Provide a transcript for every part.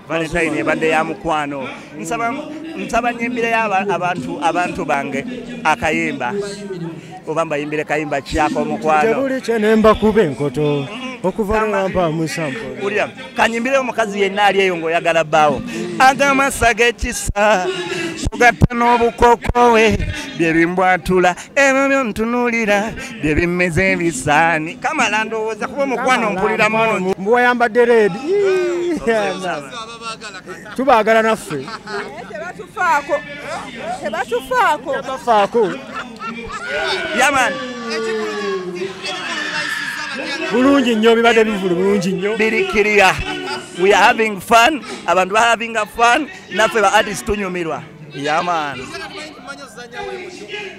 valentine ebadde ya mukwano nsaba nsaba nyimbire abantu abantu bange akayimba oba mbayimbire kayimba kyako omukwano tebuli kyenemba kuba enkoto okuvampulira kanyimbire omukazi yenna ali eyo ngaoyagala bbaawo agamasaga ekisa kugatta n'obukokowe byebimbwatula ebyo byontunulira bye bimmeza ebisaani kamala ndowooza kuba omukwano mpulira mungi mbu wayambadde reedi tubaagala naffe tebatufaako tebatufaako tebatufaako yaman bulungi nnyo bibadde bivulu bulungi nnyo birikiriya we are having fun abantu ba having a fun naffe ba artist tunyumirwa yaman yeah,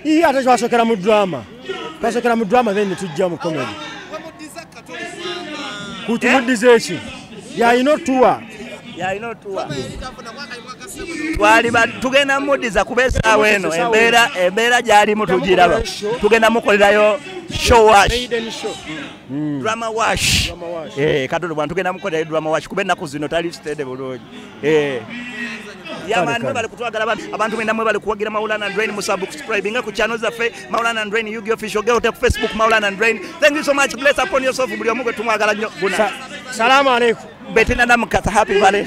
iye ate twasokera mu drama twasokera mu drama then netujja mu comedy kutumuddiza eki yalina otuwa yalina otuwa twaliba tugenda mudiza kuba esaawa eno embeera embeera gyalimu tugiraba tugenda mukolerayo showash mm. drama wash eh, katono bwantugenda mukolerayo drama wash kuba ennaku zino tali sitede bulungi eh. yabantu mwebale kutwagala babi abantu mwenda mwebale kuwagira maulana and rain musubscribinga ku channel zaffe maulana and rain yugi official geo ku facebook maulana and rain thank you so much bless upon yourself buli omu gwe tumwagala nnyo guna salamu alaikum betina namukasa happy valley